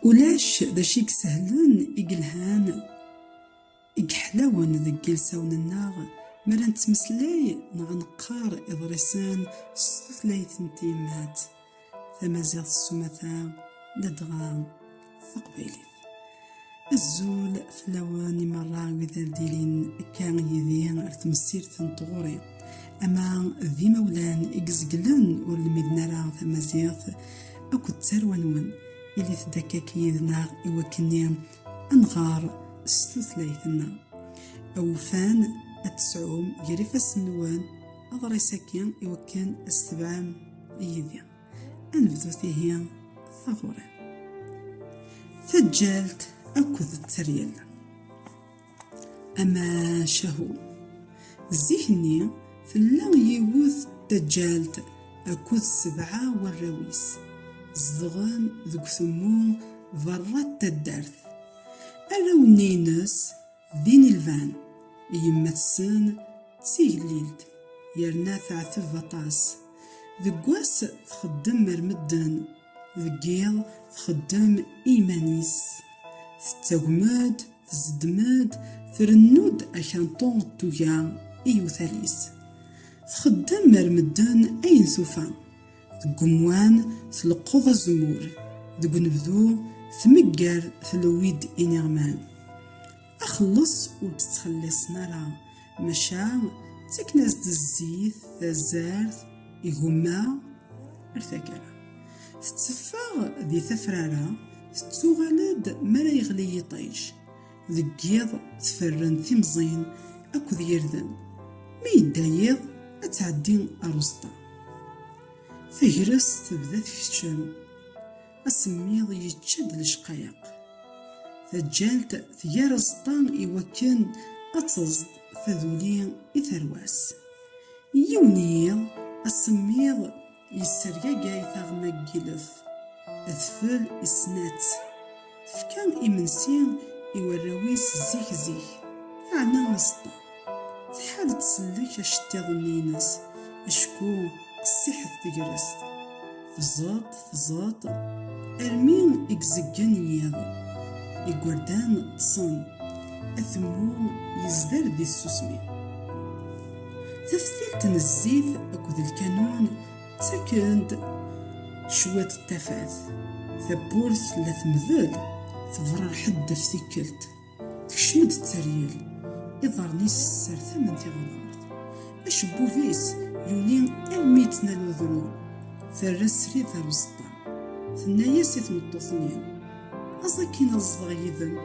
Ulac d acu i isehlen, i yelhan, i yeḥlawen deg yilsawen-nneɣ mi ara nettmeslay neɣ neqqar iḍrisen s tutlayt n tyemmat, tamaziɣt s umata, ladɣa d taqbaylit. Azul fell-awen i meṛṛa wid ar d-ilin akka yid-i ar temsirt n tɣuri. Ama d imawlan i izeglen ur lmiden ara tamaziɣt akked tarwa-nwen, ilit-d akkak yid-neɣ i wakken-nni a nɣer s tutlayt-nneɣ. Awufan ad tesɛum gar ifassen-nwen aḍris-agi i wakken a s-tebɛem yid-i. Anebdu tihi taɣuri. Taǧǧalt akked teryel. Ama cahu. Zik-nni tella yiwet taǧǧalt akked sebɛa warraw-is. Zedɣen deg utemmu berra n taddart. Arraw-nni-ines Din i lban yemma-tsen d tigellilt yerna teɛteb aṭas. Deg wass txeddem mer medden, deg yiḍ txeddem i yiman-is. Tettagmem-d, tzeddem-d, trennu-d akanṭu d tuga i yiwtal-is. Txeddem mer medden ayen tufa. Deg umwan, tleqqeḍ azemmur. Deg unebdu, tmegger tlewwi-d iniɣman. Axelleṣ ur tt-ttxelliṣen ara, maca ttaken-as-d zzit, tazart, igumma, ar taggara. Tetteffeɣ di tafrara, tettuɣal-d mi ara yeɣli yiṭij. Deg yiḍ tferren timẓin akked yirden, mi yedda yiḍ ad tɛeddi ar uẓeṭṭa. Tagrest tebda tkeččem, asemmiḍ yečča-d lecqayeq. Taǧǧalt tger aẓeṭṭa i wakken ad teẓḍ taduli i tarwa-s. Yiwen yiḍ, asemmiḍ Yessergagay taɣma n yilef, tfel isnat. Tefka imensi i warraw-is zik zik, yeɛna aẓeṭṭa. Tḥal tsellek aceṭṭiḍen-ines, acku qessiḥet tegrest. Tẓeṭṭ, tẓeṭṭ, armi i izeggen yiḍ. Igerdan ṭṭsen, atemmu yezder di tsusmi. Taftilt n zzit akked lkanun ttaken-d cwiṭ n tafat. Tawwurt la temdel, tebra lḥedd ɣef tikkelt. Tekcem-d d teryel, iḍarren-is ssertamen tiɣenɣert. Acebbub-is yuli armi yettnal udru. Terra srid ar uzeṭṭa. Tenna-as i tmeṭṭut-nni, Aẓ akin ad ẓḍeɣ yid-m.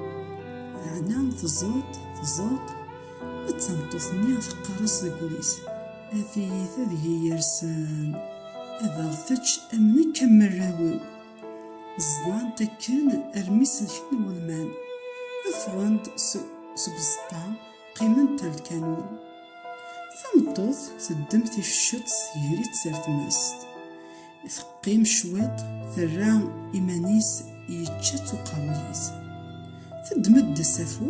Laɛna tẓuṭ, tẓuṭ, D tameṭṭut-nni teqqar-as deg wul-is, A tiyita deg-i yersen, ad aɣ-tečč am nekk am warraw-iw. Ẓẓlant akken armi selken wulman, ffɣen-d seg uẓeṭṭa, qqiment ar lkanun. Tameṭṭut teddem ticceţ tegri-ţ ar tmest. Teqqim cwiṭ, terra iman-is yečča-tt uqerruy-is. Teddem-d asafu,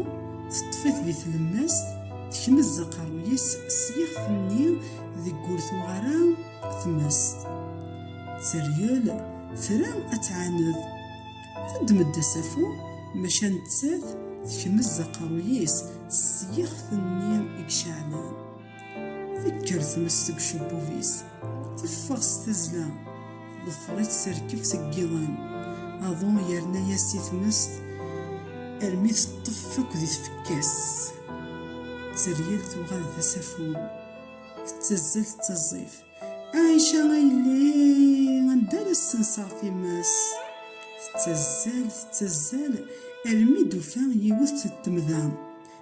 teṭṭef-it di tlemmast, tekmez aqerruy-is s yixef-nni deg ur tuɣ ara tmest. Tteryel tra ad tɛaned. Teddem-d asafu, maca nettat tekmez aqerruy-is s yixef-nni i iceɛlen. Tekker tmes seg ucebbub-is, teffeɣ s tazzla, teḍfer-itt terkeb seg yiḍan. Aḍu yerna-yas i tmest armi teṭṭef akk di tfekka-s. Tteryel tuɣal d asafu, tettazzal tettaẓẓif. Aɛica a yelli, anda ara ssenseɣ times? Tettazzal tettazzal armi d-ufa yiwet n temda.